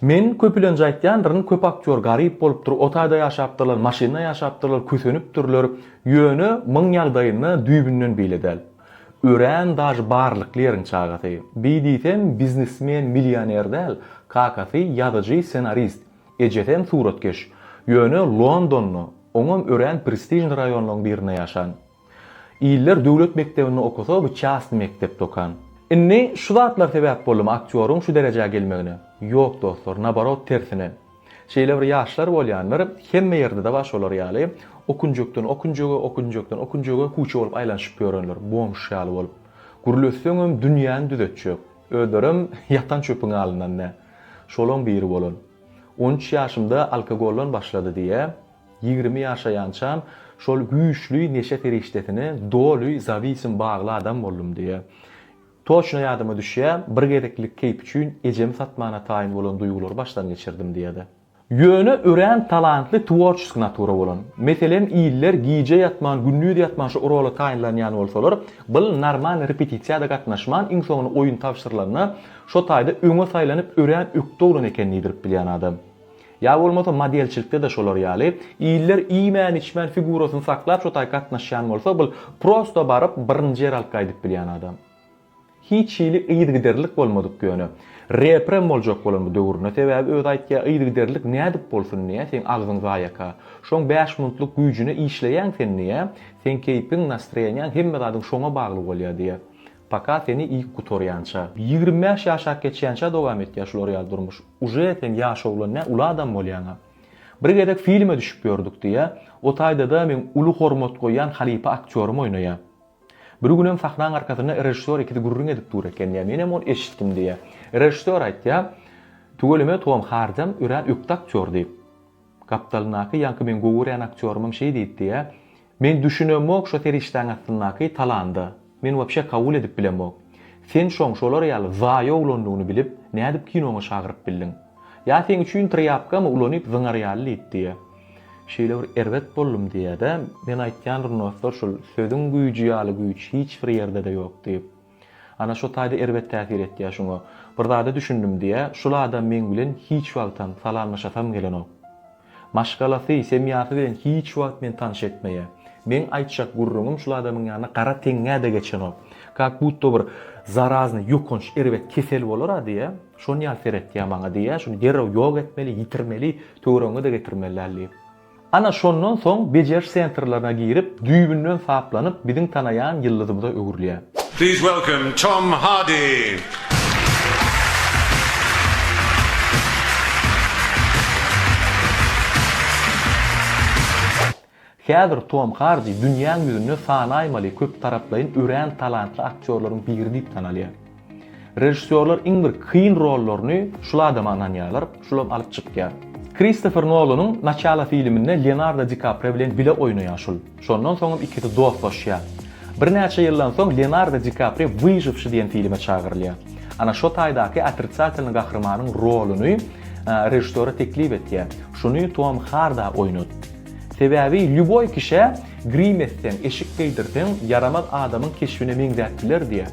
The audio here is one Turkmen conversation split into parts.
Men köpülenji aýtýandyryn köp aktýor garyp bolupdyr otaýda ýaşapdyrlar maşynda ýaşapdyrlar kösenipdirler ýöne myň ýagdaýynda düýbünden beýle däl örän daži barlykly ýeriň çagasy bi diýsem biznesmen milýoner däl kakasy ýazyjy ssenarist ejesem suratkeş ýöne Londonda oňam örän prestižny raýonlaň birinde ýaşan. Iller döwlet mekdebinde okasa bu çastny mekdepde okan. Inni şu zatlar sebäp boldymy aktýoryň şu derejä gelmegine? Ýok dostlar, naborot tersine. Şeýle bir ýaşlar bolýandyr, hemme ýerdede bar şolar ýaly, okunjekden okunjege, okunjekden okunjege kuçe bolup aýlanyşyp ýörenler, bomž ýaly bolup. Gürleşseňem dünýäni düzetjek. Özlerem ýatan çöpüň alyndan dä. Şolaň biri bolan. On üç ýaşymda alkogoldan başlady diýýä. Ýigrimi ýaşaýançam şol güýçli neşe serişdesine doly zawisim, bagly adam boldum diýýär. Toçno ýadyma düşýä, bir gezeklik keýp üçin ejemi satmana taýyn bolan duýgulary başdan geçirdim diýýär. Ýöne örän talantly tworçesk natura bolan. Meselem, iller gije ýatman, gündiz ýatman şu rola taýynlanýan bolsalar, bl normal repetisiýa-da gatnaşman, iň soňuna oýun tabşyrylanda, şo taýda öňe saýlanyp örän ökde oglan eken diýdirip bilýän adam. Ýa bolmasa modelçilikde-de şolar ýaly, iller iýmän-içmän figurasyny saklap şo taý gatnaşýan bolsa bul prosto baryp birinji ýer alyp gaýdyp bilýän adam. Hiç hili yzygiderlilik bolmadyk ýöne. Reprem boljak bolan bu döwründe sebäbi özi aýtýa yzygiderlilik nädip bolsun diýä seň agzyň zaýaka. Şoň bäş muntlyk güýjüne işleýäň sen diýä, seň keýpiň, nastreniýaň hemme zadyň şoňa bagly bolýa diýä. Paka seni iýip gutarýança. Ýigrimi bäş ýaşap geçýänçä dowam etýä şular ýaly durmuş. Uje sen ýaş oglan nä uly adam bolýaňa. Bir gezek filme düşüp ýördük diýýä. O taýdada meň uly hormat goýýan halypa aktýorym oýnaýa. Bir günem sahnaň arkasynda režissýor ikisi gürrüň edip dur eken diýýä. Menem ony eşitdim diýýä. Režissýor aýtýa, Tüweleme Tom Hardam örän ökde aktýor diýip. Gapdalyndaky ýaňky meň gowy görýän aktýorymam şeý diýipdi-ä. Men düşünemok şo serişdäň astyndaky talanda. Men wapşe kabul edip bilemok. Sen şoň şolar ýaly zaýa oglandygyny bilip, nädip kinoňa çagyryp bildiň? Ýa seň üçin trýapkamy ulanyp zyňar ýaly diýipdi-ä. Şeýle bir erbet boldum diýýä-dä. Men aýtýan Rnoslar şul, sözüň güýji ýaly güýç hiç bir ýerde-de ýok diýip. Ana şo taýda erbet täsir etýä şuňa. Bir zada düşündim diýä, şul adam meň bilen hiç wagtam salamlaşasam gelenok. Maşgalasy, semýasy bilen hiç wagt meni tanyş etmeýä. Meň aýtjak gürrüňim şul adamyň ýanyna gara teňňä-de geçenok. Kak butda bir zaraznyý, ýokanç, erbet kesel bolar-a diýä, şon ýaly seretýä maňa diýä, şuny derrew ýok etmeli, ýitirmeli, töweregiňe-de getirmeli däl diýip. Ana şondan soň bejeriş sentrlaryna girip düýbünden saplanyp biziň tanaýan ýyldyzymyza öwrülýär. Please welcome Tom Hardy! Häzir Tom Hardy dünýäň ýüzünde sanaýmaly köptaraplaýyn örän talantly aktýorlaryň biri diýip tanalýar. Režissýorlar iň bir kyn rollaryny şul adama ynanýarlar, şulam alyp çykýar. Kristofer Nolanyň Naçalo filminde Leonardo Di Kaprio bilen bile oýnaýan şul. Şondan soňam ikisi dostlaşýar. Birnäçe ýyldan soň Leonardo Di Kaprio Wyžywşi diýen filme çagyrylýar. Ana şo taýdaky otritsatelnyý gahrymanyň roluny režissýora teklip etýär. Şuny Tom Harda oýnat. Sebäbi lýuboý kişä grim etseň, eşik geýdirseň, ýaramaz adamyň keşbine meňzäp biler diýýär.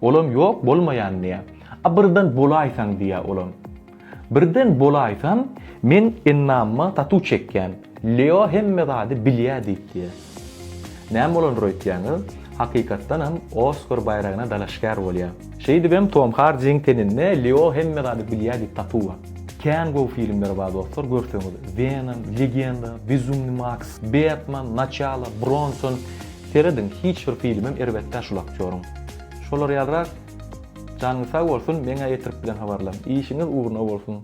Olam ýok bolmaýan diýýä. A birden bolaýsaň diýýä olam. Birden bolaýsam men ennamyma tatu çekýän. Leo hemme zady bilýä diýip diýýä. Näme bolandyr öýtýäňiz? Hakykatdanam Oskar baýragyna dalaşgär bolýa. Şeýdibem Tom Hardiň teninde Leo hemme zady bilýä diýip tatu bar. Kän gowy filmler bar dostlar görseňiz Venom, Legenda, Bezumny Maks, Betman, Naçalo, Bronson, Serediň hiç bir filmem erbetdä şul aktýoryň. Şolar ýalyrak Janyňyz sag bolsun meňä ýetirip bilen habarlaň. Işiňiz ugruna bolsun.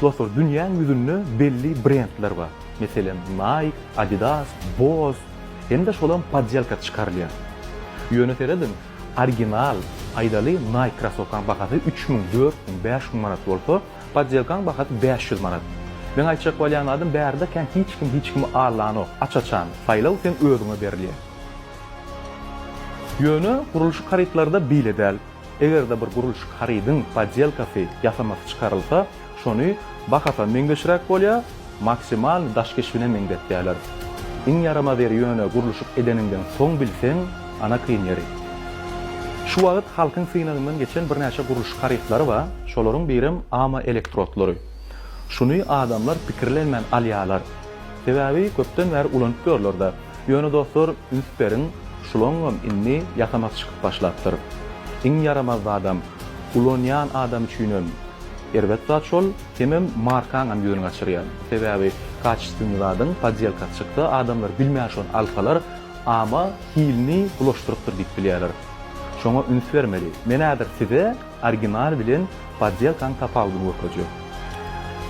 Dostlar dünýäň ýüzünde belli brendler bar. Meselem Nike, Adidas, Bose hem-de şolam podýelka çykarylýan. Ýöne serediň original aýdaly Nike krasowkaň bahasy üç müň, dört müň, bäş müň manat bolsa, Podýelkaň bahasy bäş ýüz manat. Meň aýtjak bolýan zadym bärde kän hiç kim hiç kimi allanok. Aç-açan, saýlaw seň özüňe berilýär. Ýöne gurluşyk harytlarda beýle däl. Eger-de bir gurluşyk harydyň podýelkasy, ýasamasy çykarylsa, şony bahasy meňzeşräk bolýar, Maksimal daş keşbine meňzetýäler. Iň ýaramaz ýeri ýöne gurluşyk edeniňden soň bilseň ana kyn ýeri. Şu wagyt halkyň synagyndan geçen birnäçe gurluşyk harytlary ba, şolaryň birem ama elektrotlary. Şuny adamlar pikirlenmän alýalar. Sebäbi köpden bäri ulanyp ýörlerde. Ýöne dostlar üns beriň şulaňňam indi ýasamasy çykyp başlapdyr. Iň ýaramaz zadam. Ulanýan adam üçinem erbet zat şol. Semem markaňam ýöne gaçyrýan. Sebäbi kaçestwnyý zadyň podýelkasy çyksa adamlar bilmän şony alsalar ama hilini bulaşdyrypdyr diýip bilýärler. Şoňa üns bermeli. Men häzir size orginal bilen podýelkaň tapawudyny görkezjek.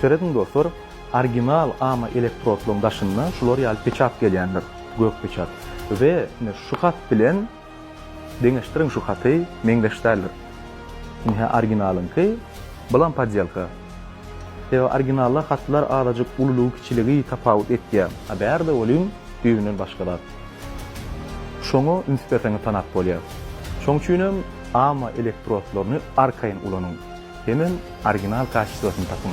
Serediň dostlar, orginal ama elektrodlaryň daşynda şular ýaly peçat gelýändir, gök peçat we ine şu hat bilen, Deňeşdiriň şu haty meňzeş däldir. Ynha originalyňky, bulam podýelka. Sebäbi originalda hatlar azajyk ululygy kiçiligi tapawut etýä. A bärde welin düýbünden başga zat. Şoňa üns berseňiz tanap bolýa. Şoň üçinem ama elektrodlaryny arkaýyn ulanyň. Hemem original kaçestwasny tapyň.